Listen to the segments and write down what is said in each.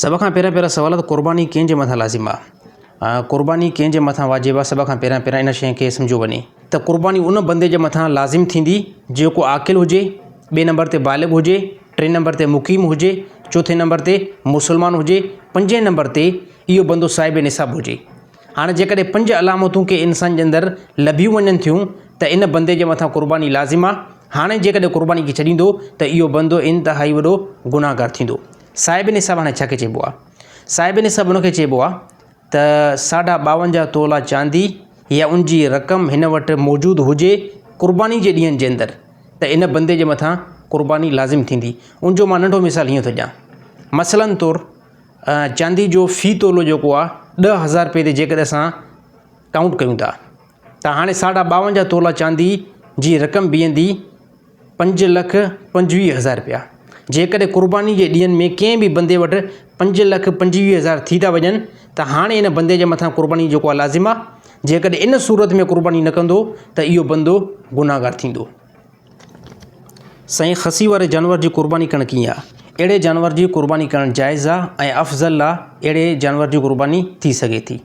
سڀ کان پهريان پهريان سوال ته قرباني ڪنهن جي مٿان لازم آ؟ قرباني ڪنهن جي مٿان واجب آ سڀ کان پهريان پهريان ان شيء کي سمجهيو وڃي ته قرباني ان بندي جي مٿان لازم ٿيندي جيڪو عاقل هجي، ٻئي نمبر تي بالغ هجي، ٽئين نمبر تي مقيم هجي، چوٿين نمبر تي مسلمان هجي، پنجين نمبر تي اهو بندو صاحب نصاب هجي. هاڻ جيڪڏهن پنج علامتون ڪنهن انسان جي اندر لڀيون وڃن ٿيون ته ان بندي جي مٿان قرباني لازم آ، هاڻي جيڪڏهن قرباني کي ڇڏيندو ته اهو بندو انتهائي وڏو گناهگار ٿيندو. صاحب نصاب هاڻي ڇا کي چئبو آ؟ صاحب نصاب ان کي چئبو آ ته ساڍا ٻاونجاهه تولا چاندي يا ان جي رقم هن وٽ موجود هجي قرباني جي ڏينهن جي اندر ته ان بندي جي مٿان قرباني لازم ٿيندي. ان جو مان ننڍو مثال هيئن ٿو ڏيان. مثلاً طور. چاندي جو في تولو جيڪو آ ڏهه هزار روپئي تي جيڪڏهن اسان ڪائونٽ ڪيون ٿا ته هاڻي ساڍا ٻاونجاهه تولا چاندي جي رقم بيهندي پنج لک پنجويهه هزار روپيا جيڪڏهن قرباني جي ڏينهن ۾ ڪنهن به بندي وٽ پنج لک پنجويهه هزار ٿي ٿا وڃن ته هاڻي ان بندي جي مٿان قرباني جيڪو آ لازم آ جيڪڏهن ان صورت ۾ قرباني نه ڪندو ته اهو بندو گناهگار ٿيندو سائين خسي واري جانور جي قرباني ڪرڻ ڪيئن آ؟ اهڙي جانور جي قرباني ڪرڻ جائز آ ۽ افضل آ اهڙي جانور جي قرباني ٿي سگهي ٿي.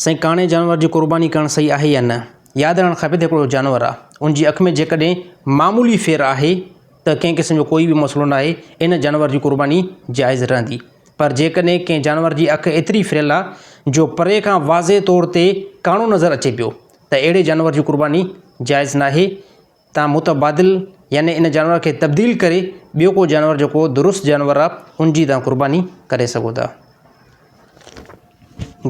سائين ڪاڻي جانور جي قرباني ڪرڻ صحيح آهي يا نه؟ ياد رهڻ کپي ته هڪڙو جانور آ ان جي اک ۾ جيڪڏهن معمولي ڦير آهي ته ڪنهن قسم جو ڪوئي به مسئلو ناهي ان جانور جي قرباني جائز رهندي پر جيڪڏهن ڪنهن جانور جي اک ايتري ڦريل آ جو پري کان واضح طور تي ڪاڻو نظر اچي پيو ته اهڙي جانور جي قرباني جائز ناهي تان متبادل يعني ان جانور کي تبديل ڪري ٻيو ڪو جانور جيڪو درست جانور آ ان جي تان قرباني ڪري سگهو ٿا.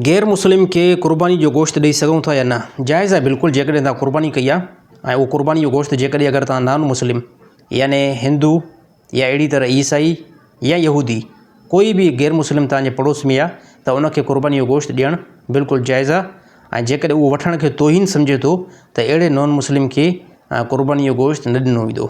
غير مسلم کي قرباني جو گوشت ڏئي سگهون ٿا يا نه؟ جائز آهي بلڪل جيڪڏهن تان قرباني ڪئي آ ۽ اهو قرباني جو گوشت جيڪڏهن اگر تان نان مسلم يعني هندو، يا اهڙي طرح عيسائي يا يهودي ڪوئي به غير مسلم توهان جي پڙوس ۾ آهي ته ان کي قرباني جو گوشت ڏيڻ بلڪل جائز آهي ۽ جيڪڏهن اهو وٺڻ کي توهين سمجهي ٿو ته اهڙي نان مسلم کي قرباني جو گوشت نه ڏنو ويندو.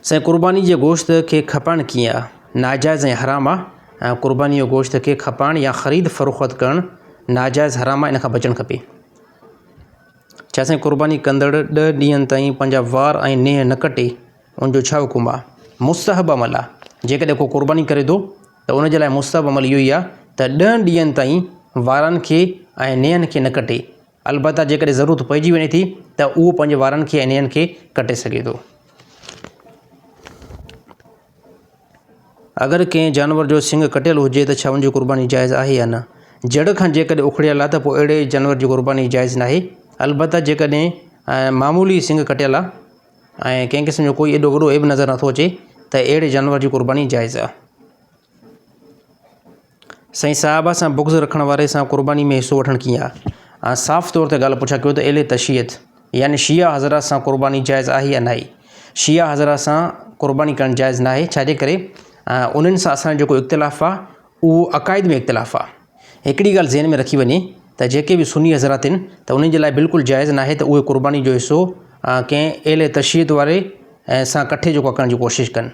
سائين قرباني جي گوشت کي کپائڻ ڪيئن آهي؟ ناجائز ۽ حرام آهي. قرباني جي گوشت کي کپائڻ يا خريد فروخت ڪرڻ ناجائز حرام آهي ان کان بچڻ کپي. چياسين قرباني ڪندڙ ڏهه ڏينهن تائين پنهنجا وار ۽ نيهه نه ڪٽي ان جو ڇا حڪم آ؟ مستحب عمل آ، جيڪڏهن ڪو قرباني ڪري ٿو ته ان جي لاء مستحب عمل اهو ئي آ ته ڏهن ڏينهن تائين وارن کي ۽ نيهن کي نه ڪٽي، البته جيڪڏهن ضرورت پئجي وڃي ٿي ته اهو پنهنجي وارن کي ۽ نيهن کي ڪٽي سگهي ٿو. اگر ڪنهن جانور جو سنڱ ڪٽيل هجي ته ڇا ان جي قرباني جائز آهي يا نه؟ جڙ کان جيڪڏهن اکڙيل آهي ته پوء اهڙي جانور جي قرباني جائز ناهي، البته جيڪڏهن معمولي سنڱ ڪٽيل آهي ۽ ڪنهن قسم جو ڪوئي ايڏو وڏو عيب نظر نٿو اچي ته اهڙي جانور جي قرباني جائز آهي. سائين صاحب سان بغض رکڻ واري سان قرباني ۾ حصو وٺڻ ڪيئن آ؟ آئون صاف طور تي ڳالهه پڇان ڪيو ته اهل تشيعت يعني شيعا حضرات سان قرباني جائز آهي يا ناهي؟ شيعا حضرات سان قرباني ڪرڻ جائز ناهي ڇاجي ڪري انهن سان اسان جو جيڪو اختلاف آ اهو عقائد ۾ اختلاف آ. هڪڙي ڳالهه ذهن ۾ رکي وڃي ته جيڪي به سني حضرات آهن ته انهن جي لاء بلڪل جائز ناهي ته اهي قرباني جو حصو ڪنهن اهل تشيعت واري سان ڪٺي جيڪو آ ڪرڻ جي ڪوشش ڪن.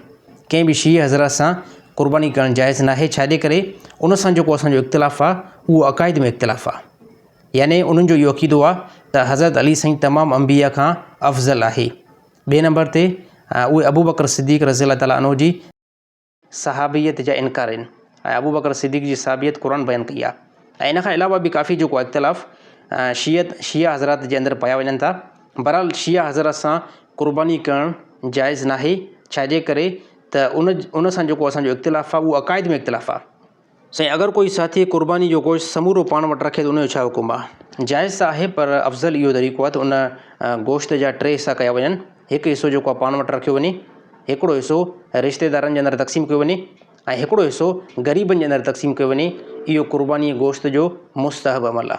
ڪنهن به شيعي حضرات سان قرباني ڪرڻ جائز ناهي ڇاجي ڪري ان سان جيڪو اسان جو اختلاف آهي اهو عقائد ۾ اختلاف آهي يعني انهن جو اهو عقيدو آهي ته حضرت علي سائين تمام انبيا کان افضل آهي ٻئي نمبر تي اهي ابو بڪر صديق رضي الله تعالٰي عنه جي صحابيت جا انڪار آهن ۽ ابو بڪر صديق جي صحابيت قرآن بيان ڪئي آهي ۽ ان کان علاوه به ڪافي جيڪو اختلاف شيعت شيعا حضرات جي اندر پايا وڃن ٿا بھرحال شيعا حضرات سان قرباني ڪرڻ جائز ناھي ڇاجي ڪري ته ان ان سان جيڪو اسانجو اختلاف آ اھو عقائد ۾ اختلاف آ سائين اگر ڪوئي ساٿي قرباني جو گوشت سمورو پاڻ وٽ رکي ته ان جو ڇا حڪم آ جائز ته آھي پر افضل اھو طريقو آ ته ان گوشت جا ٽي حصا ڪيا وڃن ھڪ حصو جيڪو آ پاڻ وٽ رکيو وڃي ھڪڙو حصو رشتي دارن جي اندر تقسيم ڪيو وڃي ۽ ھڪڙو حصو غريبن جي اندر تقسيم ڪيو وڃي اھو قرباني گوشت جو مستحب عمل آ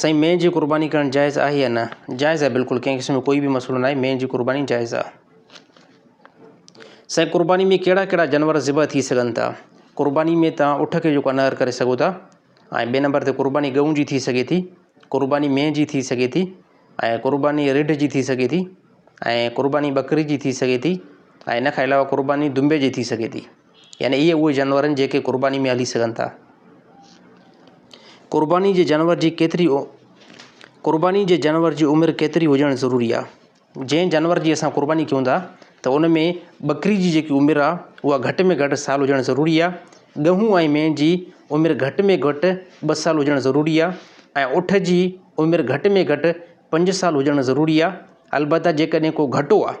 سائين مينهن جي قرباني ڪرڻ جائز آهي يا نه جائز آهي بلڪل ڪنهن قسم جو ڪوئي به مسئلو ناهي مينهن جي قرباني جائز آهي سائين قرباني ۾ ڪهڙا ڪهڙا جانور ذبح ٿي سگهن ٿا قرباني ۾ تان اٺ کي جيڪو انهر ڪري سگهو ٿا ۽ ٻئي نمبر تي قرباني ڳئون جي ٿي سگهي ٿي قرباني مينهن جي ٿي سگهي ٿي ۽ قرباني رڍ جي ٿي سگهي ٿي ۽ قرباني ٻڪري جي ٿي سگهي ٿي ۽ ان کان علاوه قرباني دنبي جي ٿي سگهي ٿي يعني اهي اهي جانور آهن جيڪي قرباني ۾ هلي سگهن ٿا قرباني جي جانور جي ڪيتري قرباني جي جانور جي عمر ڪيتري هجڻ ضروري آهي جنهن جانور جي اسان قرباني ڪيون ٿا ته ان ۾ ٻڪري جي جيڪي عمر آهي اها گهٽ ۾ گهٽ سال هجڻ ضروري آهي ڳهون ۽ مين جي عمر گهٽ ۾ گهٽ ٻه سال هجڻ ضروري آهي ۽ اٺ جي عمر گهٽ ۾ گهٽ پنج سال هجڻ ضروري آهي البته جيڪڏهن ڪو گهٽو آهي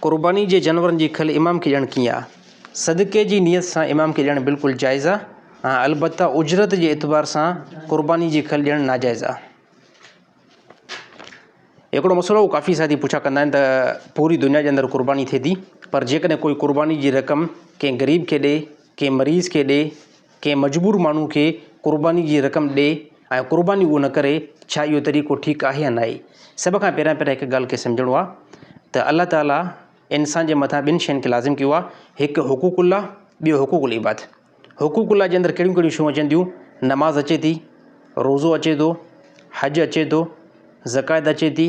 قرباني جي جانورن جي کل امام کي ڏيڻ ڪيئن آ؟ صدقي جي نيت سان امام کي ڏيڻ بلڪل جائز آ ۽ البته اجرت جي اعتبار سان قرباني جي کل ڏيڻ ناجائز آ. هڪڙو مسئلو ڪافي ساٿي پڇا ڪندا آهن ته پوري دنيا جي اندر قرباني ٿئي ٿي پر جيڪڏهن ڪوئي قرباني جي رقم ڪنهن غريب کي ڏي ڪنهن مريض کي ڏي ڪنهن مجبور ماڻهو کي قرباني جي رقم ڏي ۽ قرباني اهو نه ڪري ڇا اهو طريقو ٺيڪ آهي يا ناهي؟ سڀ کان پهريان پهريان هڪ ڳالهه کي سمجهڻو آهي ته الله تعاليٰ انسان جي مٿان ٻن شين کي لازم ڪيو آهي هڪ حقوق الله ٻيو حقوق العباد حقوق الله جي اندر ڪهڙيون ڪهڙيون شيون اچن ٿيون نماز اچي ٿي روزو اچي ٿو حج اچي ٿو زڪوات اچي ٿي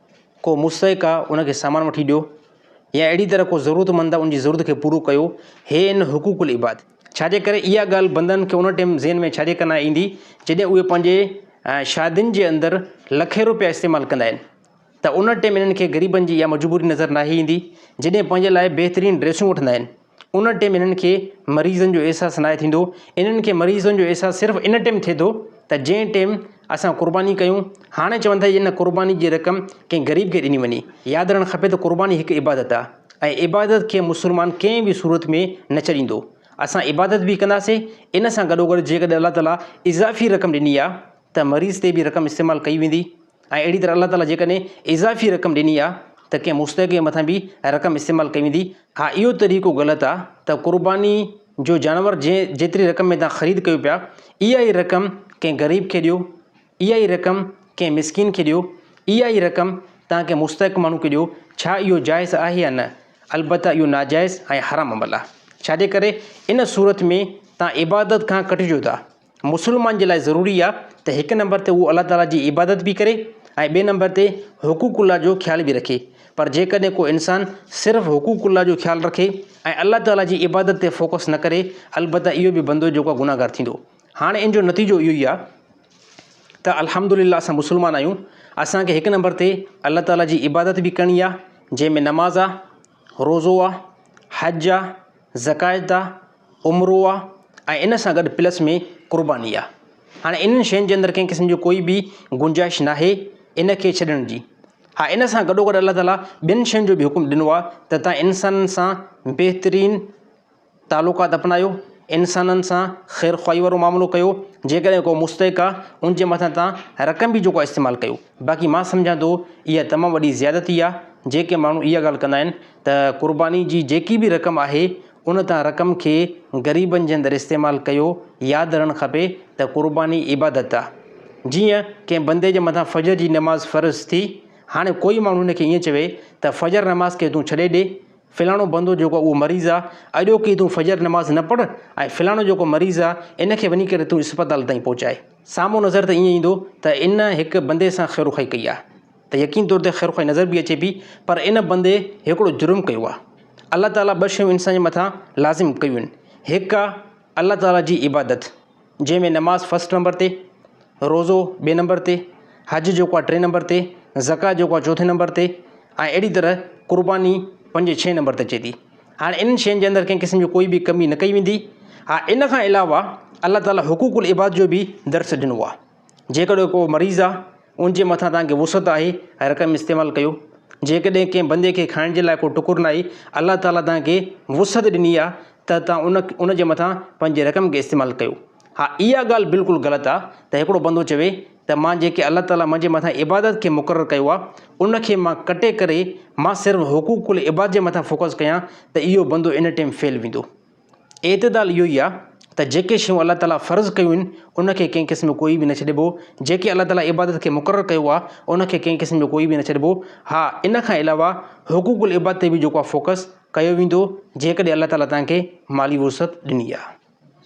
ڪو مستحق آ ان کي سامان وٺي ڏيو يا اهڙي طرح ڪو ضرورتمند آ ان جي ضرورت کي پورو ڪيو هي ان حقوق العباد ڇاجي ڪري اها ڳالهه بندن کي ان ٽيم ذهن ۾ ڇاجي ڪرڻ ايندي جڏهن اهي پنهنجي شادين جي اندر لکين روپيا استعمال ڪندا آهن ته ان ٽيم انهن کي غريبن جي اها مجبوري نظر ناهي ايندي جڏهن پنهنجي لاء بهترين ڊريسون وٺندا آهن ان ٽيم انهن کي مريضن جو احساس ناهي ٿيندو انهن کي مريضن جو احساس صرف ان ٽيم ٿئي ٿو ته جنهن ٽيم اسان قرباني ڪيون هاڻي چون ٿا ان قرباني جي رقم ڪنهن غريب کي ڏني وڃي ياد رهڻ کپي ته قرباني هڪ عبادت آهي ۽ عبادت کي مسلمان ڪنهن به صورت ۾ نه ڇڏيندو اسان عبادت به ڪنداسين ان سان گڏوگڏ جيڪڏهن الله تعاليٰ اضافي رقم ڏني آهي ته مريض تي به رقم استعمال ڪئي ويندي ۽ اهڙي طرح الله تعاليٰ جيڪڏهن اضافي رقم ڏني آ ته ڪنهن مستحق مٿان به رقم استعمال ڪئي ويندي ها اهو طريقو غلط آ ته قرباني جو جانور جنهن جيتري رقم ۾ توهان خريد ڪيو پيا اها ئي رقم ڪنهن غريب کي ڏيو اها ئي رقم ڪنهن مسڪين کي ڏيو اها ئي رقم توهان ڪنهن مستحق ماڻهو کي ڏيو ڇا اهو جائز آهي يا نه البته اهو ناجائز ۽ حرام عمل آ ڇاجي ڪري ان صورت ۾ توهان عبادت کان ڪٽجو ٿا. مسلمان جي لاء ضروري آ ته هڪ نمبر تي هو الله تعاليٰ جي عبادت به ڪري ۽ ٻئي نمبر تي حقوق الله جو خيال به رکي پر جيڪڏهن ڪو انسان صرف حقوق الله جو خيال رکي ۽ الله تعاليٰ جي عبادت تي فوڪس نه ڪري البته اهو به بندو جيڪو آ گناهگار ٿيندو هاڻي ان جو نتيجو اهو ئي آ ته الحمد لله اسان مسلمان آهيون اسانکي هڪ نمبر تي الله تعاليٰ جي عبادت به ڪرڻي آ جنهن ۾ نماز آ روزو آ حج آ زڪايت آ عمرو آ ۽ ان سان گڏ پلس ۾ قرباني آ هاڻي انهن شين جي اندر ڪنهن قسم جو ڪوئي به گنجائش ناهي ان کي ڇڏڻ جي ها ان سان گڏو گڏ الله تعالٰي ٻين شين جو به حڪم ڏنو آ ته تان انسانن سان بهترين تعلقات اپنايو، انسانن سان خير خواهي وارو معاملو ڪيو، جيڪڏهن ڪو مستحق آ ان جي مٿان تان رقم به جيڪو آ استعمال ڪيو، باقي مان سمجهان ٿو اها تمام وڏي زيادتي آ، جيڪي ماڻهو اها ڳالهه ڪندا آهن ته قرباني جي جيڪي به رقم آهي ان تان رقم کي غريبن جي اندر استعمال ڪيو، ياد رهڻ کپي ته قرباني عبادت آ، جيئن ڪنهن بندي جي مٿان فجر جي نماز فرض ٿي، هاڻي ڪوئي ماڻهو هن کي ائين چوي ته فجر نماز کي تون ڇڏي ڏي، فلاڻو بندو جيڪو اهو مريض آ اڄوڪي تون فجر نماز نه پڙهه ۽ فلاڻو جيڪو مريض آ ان کي وڃي ڪري تون اسپتال تائين پهچاء. سامهون نظر ته ائين ايندو ته ان هڪ بندي سان خيروخائي ڪئي آ ته يقين طور تي خيروخائي نظر به اچي پي پر ان بندي هڪڙو جرم ڪيو آ. الله تعاليٰ ٻه شيون انسان جي مٿان لازم ڪيون هڪ آ الله تعاليٰ جي عبادت. جنهن ۾ نماز فرسٽ نمبر تي، روزو ٻئي نمبر تي، حج جيڪو آهي ٽئين نمبر تي، زڪوات جيڪو آهي چوٿين نمبر تي ۽ اهڙي طرح قرباني پنجين ڇهين نمبر تي اچي ٿي. هاڻي انهن شين جي اندر ڪنهن قسم جي ڪوئي به ڪمي نه ڪئي ويندي. ها ان کان علاوه الله تعاليٰ حقوق العباد جو به درس ڏنو آهي. جيڪڏهن ڪو مريض آهي ان جي مٿان تنهنکي وسعت آهي ۽ رقم استعمال ڪيو جيڪڏهن ڪنهن بندي کي کائڻ جي لاء ڪو ٽڪر ناهي الله تعالٰي تنهنکي وسعت ڏني آهي ته تنهن ان ان جي مٿان پنهنجي رقم کي استعمال ڪيو ها اها ڳالهه بلڪل غلط آهي ته هڪڙو بندو چوي ته مان جيڪي الله تعالٰي منهنجي مٿان عبادت کي مقرر ڪيو آهي ان کي مان ڪٽي ڪري مان صرف حقوق العباد جي مٿان فوڪس ڪيان ته اهو بندو ان ٽيم فيل ويندو اعتدال اهو ئي آهي ته جيڪي شيون الله تعاليٰ فرض ڪيون آهن ان کي ڪنهن قسم جو ڪوئي به نه ڇڏبو جيڪي الله تعاليٰ عبادت کي مقرر ڪيو آهي ان کي ڪنهن قسم جو ڪوئي به نه ڇڏبو ها ان کان علاوه حقوق العباد تي به جيڪو آهي فوڪس ڪيو ويندو جيڪڏهن الله تعاليٰ تنهن کي مالي وسعت ڏني آهي